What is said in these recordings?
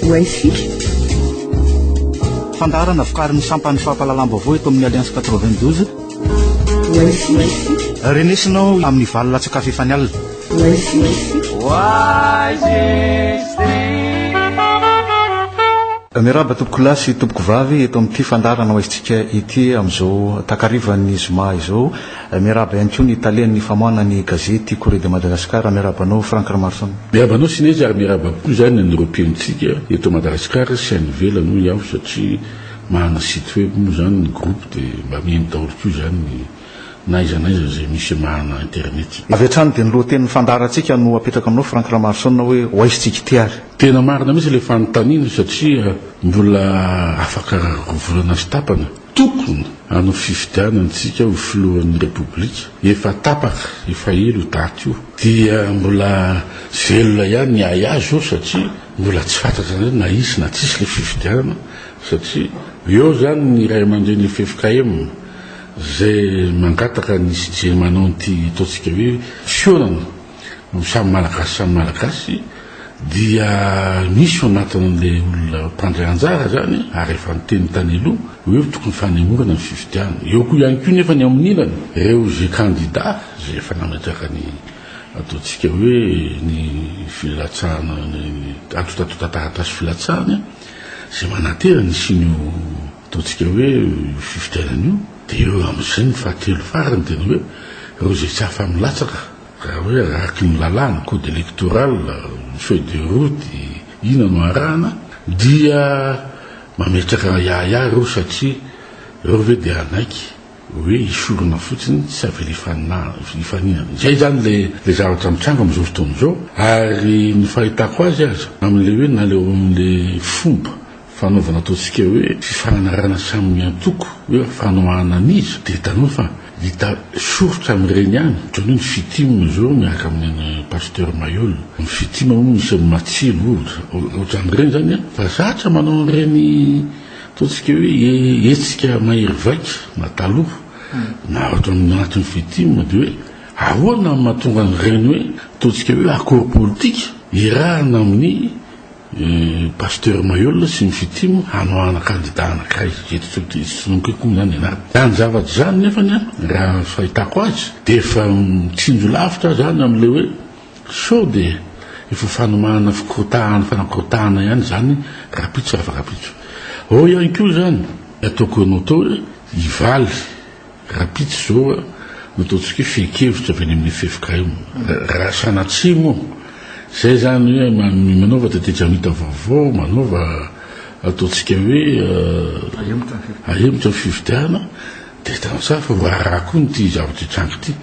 Wi-Fi. Fandaharana vokarin'ny sampan'ny fampahalalam-baovao eto amin'ny Alliance 92. Wi-Fi. Renesinao amin'ny valo latsakafy efa ny alina. Wi-Fi. Miarahaba tompoko lahy sy tompoko vavy eto amin'ity fandaharana hoaisintsika ity amin'izao takarivan'ny zoma izao. Miarahaba ihany koa ny tale ny famoahana ny gazety Courrier de Madagascar, miarahaba anao Franck Ramaroson. Miarahaba anao Sinezy ary miarahaba koa izany an'ireo mpihainontsika eto Madagascar sy any ivelany hoy aho satria manana site web moa izany ny groupe dia mba mihaino daholo koa izany ny n'aiza n'aiza izay misy manana internet. Avy hatrany dia ny lohatenin'ny fandaharantsika no apetrako aminao Franck Ramaroson hoe ho aisintsika ity ary. Tena marina mihitsy ilay fanontaniana satria mbola afaka roa volana sy tapany Tokony hanao fifidianana isika ho filohan'ny Repoblika, efa tapaka, efa ela io daty io, dia mbola velona ihany ny ahiahy zao satria mbola tsy fantatra indray na hisy na tsisy ilay fifidianana satria eo izany ny ray aman-dreny ffkm izay mangataka ny CGM hanao an'ity ataontsika hoe fihaonana ny samy Malagasy samy Malagasy dia misy ao anatin'ilay olona mpandray anjara izany ary efa niteny tany aloha hoe tokony fanemorana ny fifidianana. Eo koa ihany koa nefa ny amin'ny ilany ireo izay kandida izay efa nametraka ny ataontsika hoe ny filatsahana ny antotantotan-taratasy filatsahana izay manantena ny hisian'io Ataontsika hoe io fifidianana io dia eo amin'izay ny fahatelo farany dia ny hoe ireo izay tsy afa-milatsaka raha hoe araky ny lalàna, code électoral, ny feuille de route, inona no arahana dia mametraka yayah ireo satria ireo ve dia hanaiky hoe hisorona fotsiny tsy avela hifaninana. Izay izany ilay ilay zavatra mitranga amin'izao fotoana izao ary ny fahitako azy aza amin'ilay hoe na ilay ao amin'ilay fomba Fanaovana ataontsika hoe fifanarahana samy miantoko hoe fanohanana an'iza dia hitanao fa hita soritra amin'ireny ihany ohatran'ny hoe ny Fitim izao miaraka amin'i Pasteur Mailhol. Ny Fitim moa misy an'i Matsilo ohatra. Ohatran'ireny izany an. Fa zatra manao an'ireny ataontsika hoe hetsika mahery vaika na taloha na eto amin'ny anton'ny Fitim dia hoe ahoana no mahatonga an'ireny hoe ataontsika hoe accord politique iarahana amin'ny I Pasteur Maheul sy ny Fitim hanoahana kandida anankiray eto Tsohidy sy Sononko koa izany ianareo. Izany zavatra izany nefany an, raha ny fahitako azy dia efa mitsinjo lavitra izany amin'ilay hoe sao dia efa fanomahana fikorotahana fanakorotahana ihany izany rapitso rafa rapitso. Ao ihany koa izany ny ataoko anao tao hoe hivaly. Rapitso izao a, no ataontsika hoe fehin-kevitra avy any amin'ny ffkm. Raha sanatria moa izay izany hoe manaova tetejamita vaovao, manaova ataontsika hoe ahemotra ny fifidianana, dia tena tsara fa voarara koa ity zavatra hitranga ity.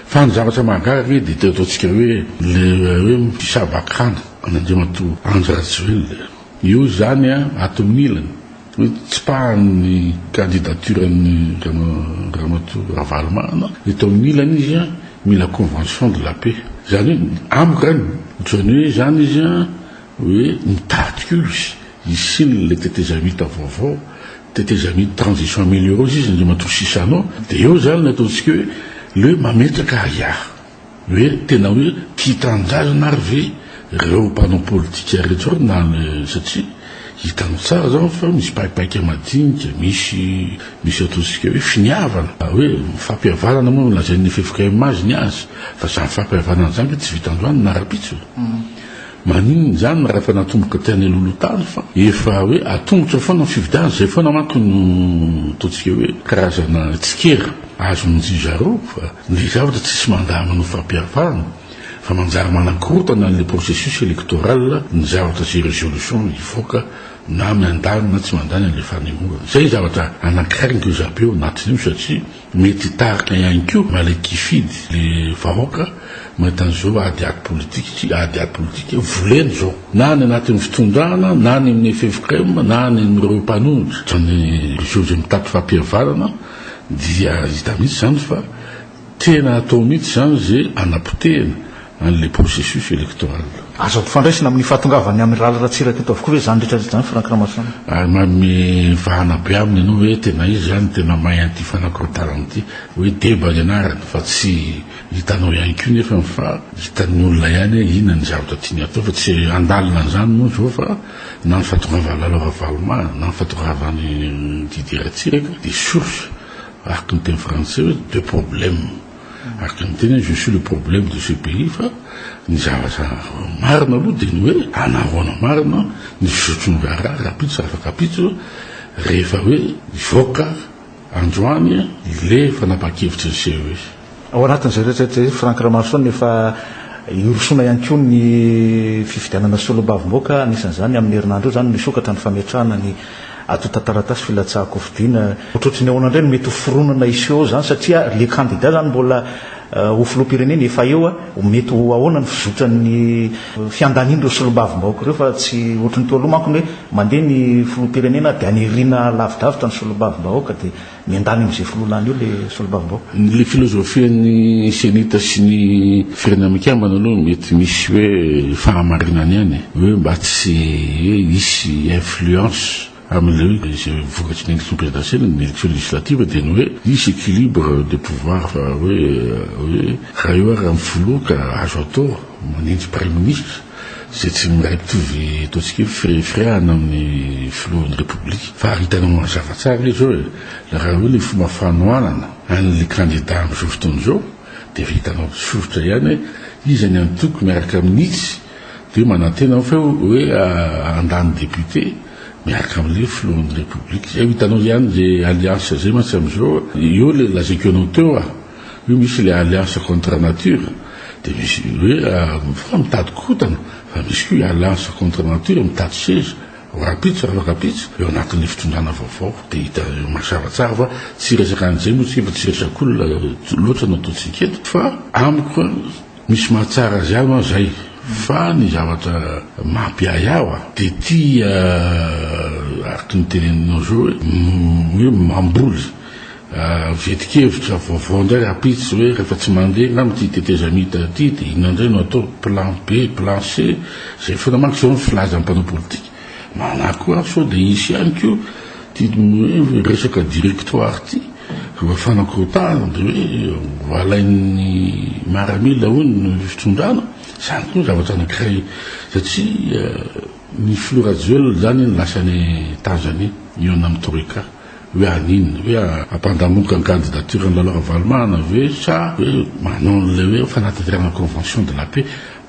Fa ny zavatra mahagaga ange dia ity ataontsika hoe ilay hoe mpisava-kanto an'Andriamatoa Andry Rajoelina. Io izany a, ato amin'ny ilany. Notsipahany ny candidature-n'i Ramatoa Ravalomanana. Eto amin'ny ilany izy mila convention de la paix. Izany hoe amiko zany, ohatran'ny hoe izany izy hoe mitady koa izy hisian'ny ilay tetezamita vaovao, tetezamita transition amelioreuse izy, Andriamatoa Chissano, dia eo izany ny ataontsika hoe le mametraka ahiahy. Hoe tena hoe tia tanindrazana ary ve ireo mpanao politika ireto ireo na le satria hitanao tsara zao fa misy paipaika madinika misy misy ataontsika hoe finiavana hoe fampihavanana moa no lazain'ny ffkm azy ny azy fa zany fampihavanana zany ve tsy vita androany na rapitso maninona zany raha efa natomboka tena hiloloha tany fa efa hoe atombotra foana ny fividana izay foana manko no ataontsika hoe karazana tsikera azo minjy zareo fa Ny zavatra tsisy mandama no fampiharfahana fa manjary manakorotana an'ilay processus electoral ny zavatra sy resolution hivoaka na miandany na tsy mandany an'ilay fanemorana. Izay ny zavatra anankiray no zabe ao anatin'io satria mety hitarika ihany koa malaiky hifidy ilay vahoaka mahita an'izao ady ady politika sy ady ady politika volena izao na any anatin'ny fitondrana na any amin'ny ffkm na any amin'ireo mpanohitra izany réseau izay mitady fampihavanana Dia hita mihitsy izany fa tena atao mihitsy izany izay hanapotehana an'ilay processus électoral. Azo ampifandraisina amin'ny fahatongavan'ny Amiraly Ratsiraka eto avokoa ve izany rehetra rehetra izany Franck Ramasoanina? Ary manome vahana be aminy ianao hoe tena izy izany no tena mahay an'ity fanakorontanana ity. Hoe deba ny anarany fa tsy hitanao ihany koa nefany fa hitan'ny olona ihany hoe inona ny zavatra tiany atao fa tsy handalina an'izany moa izao fa. Na ny fahatongavan'i Lalo Ravalomaa na ny fahatongavan'i Didier Ratsiraka dia source, araka ny teny frantsay hoe de problème. Araka ny teny hoe je suis le problème de ce pays fa ny zavatra marina aloha dia ny hoe anahoana marina ny fizotry ny raharaha rapitso sy afakapitso rehefa hoe hivoaka androany ilay fanapahan-kevitry ny CES. Ao anatin'izay rehetra izay, Franck Ramaroson, efa hirosoana ihany koa ny fifidianana solombavambahoaka, anisan'izany amin'ny herinandro io izany no hisokatra ny fametrahana ny antontan-taratasy filatsahan-kofidiana. Ohatrohatry ny ahoana indray no mety ho fironana hiseho izany satria ilay kandida izany mbola ho filoham-pirenena efa eo, mety ho ahoana ny fizotran'ny fiandanian'ireo solombavambahoaka ireo fa tsy ohatry ny teo aloha manko ny hoe mandeha ny filoham-pirenena dia aniriana lavidavitra ny solombavambahoaka dia Miandany amin'izay filoha lany eo ilay solombavambahoaka. Ilay filozofian'ny Cenita sy ny Firenena Mikambana aloha mety misy hoe fahamarinany ihany e. Hoe mba tsy hoe hisy influence amin'ilay hoe izay vokatry ny élection présidentielle, ny élection législative dia ny hoe hisy équilibre de pouvoir fa hoe hoe raha eo ary amin'ny filoha ka azo atao manenjy praiminisitra. izay tsy miray mitovy ataontsika hoe firehafirehana amin'ny filohan'ny Repoblika fa hitanao mazava tsara izy izao e! raha eo ny fomba fanohanana an'ilay kandida amin'izao fotoana izao dia efa hitanao tsotra ihany hoe iza ny antoko miaraka amin'itsy dia manantena aho fa hoe handany député miaraka amin'ilay filohan'ny Repoblika izay ho hitanao ihany izay alliance izay mantsy amin'izao eo ilay lazaiko anao teo a! Io misy le alliance contre nature de misy hoe mifoha mitady kotana fa misy koa alliance contre nature mitady seza rahampitso raha rahampitso eo anatin'ny fitondrana vaovao de hita mazava tsara fa tsy resaka an'izay moa tsy mba tsy resak'olona loatra no ataontsika eto fa amiko misy mahatsara azy ahy ma zay fa ny zavatra mampiahy ahy wa de ty araka ny teneninao zao hoe mamboly Vetikevitra vaovao indray rapitso hoe rehefa tsy mandeha angamba ity tetezamita ity dia inona indray no atao, plan B, plan C, izay foana manko izao no filazan'ny mpanao politika. Manahy koa aho sao dia hisy ihany koa ity hoe resaka directoire ity mba fanakorotahana dia hoe ho alain'ny maramila hono ny fitondrana. Izany koa zavatra anankiray satria ny filoha Rajoelina izany lasa any Tanzania mihaona amin'ny troika. Hoe haninona? Hoe hampandamoka ny candidature an'i Lalao Ravalomanana ve sa hoe manao an'ilay hoe fanatanterahana convention de la paix?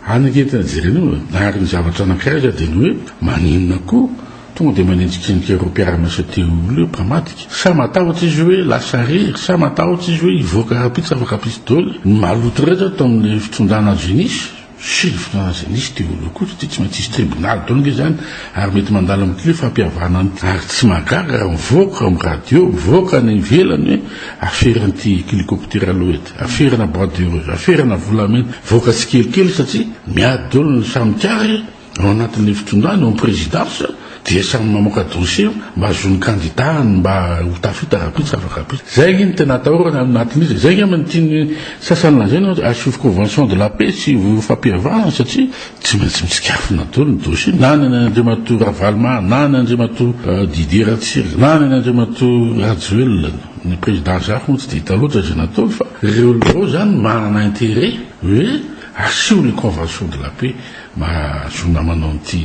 Any ange ny tena jerena eo e! Ary ny zavatra anankiray izao dia ny hoe maninona koa tonga dia manenjikenjika ireo mpiara-miasa telo ireo mpamadika? Sa matahotra izy hoe lasa irery? Sa matahotra izy hoe hivoaka rahampitso afaka pistole ny maloto rehetra tao amin'ilay fitondràna azo inisy? Filoha aza nisy teo aloha koa satria tsy maintsy hisy tribunal daholo ange izany ary mety mandalo amin'ity hoe fampihavana an'ity ary tsy mahagaga raha mivoaka amin'ny radio, mivoaka any ivelany hoe afera an'ity helicoptera Loed, aferana bois de rose, aferana volamena, mivoaka tsikelikely satria miady daholo ny samy kary. Ao anatin'ilay fitondrana, eo amin'ny prezidansa, dia samy mamoaka dossier mba hahazoan'ny kandidàny mba ho tafita rahampitso tsy afaka rahampitso. Izay ange no tena atahorana ao anatin'izy e. Izay angamba no tian'ny sasany lazaina hoe asio convention de la paix sy ho fampihavanana satria tsy maintsy mitsikafona daholo ny dossier, na ny an'Andriamatoa Ravaloman, na ny an'Andriamatoa Didier Ratsiraka, na ny an'Andriamatoa Rajoelina. Ny prezidansa hafa moa tsy dia hita loatra izay nataony fa ireo ireo izany manana intérêt hoe asio ilay convention de la paix. Mahazoana manao an'ity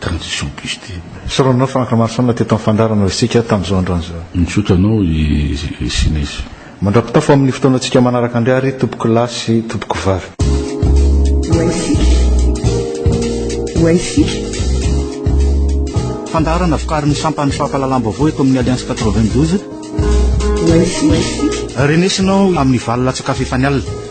transition bus ity e. Soronina fa ankamarosoana teto amin'ny fandaharana isika tamin'izao androany izao. Misaotra anao i Sinesy. Mandra-pitafo amin'ny fotoanantsika manaraka indray àry tompoko lahy sy tompoko vavy. Ho antsika. Ho antsika. Fandaharana vokarin'ny sampan'ny fampahalalam-baovao eto amin'ny Alliance quatre-vingt-douze. Ho antsika. Renesina ao amin'ny valo latsak'afo efa nialina.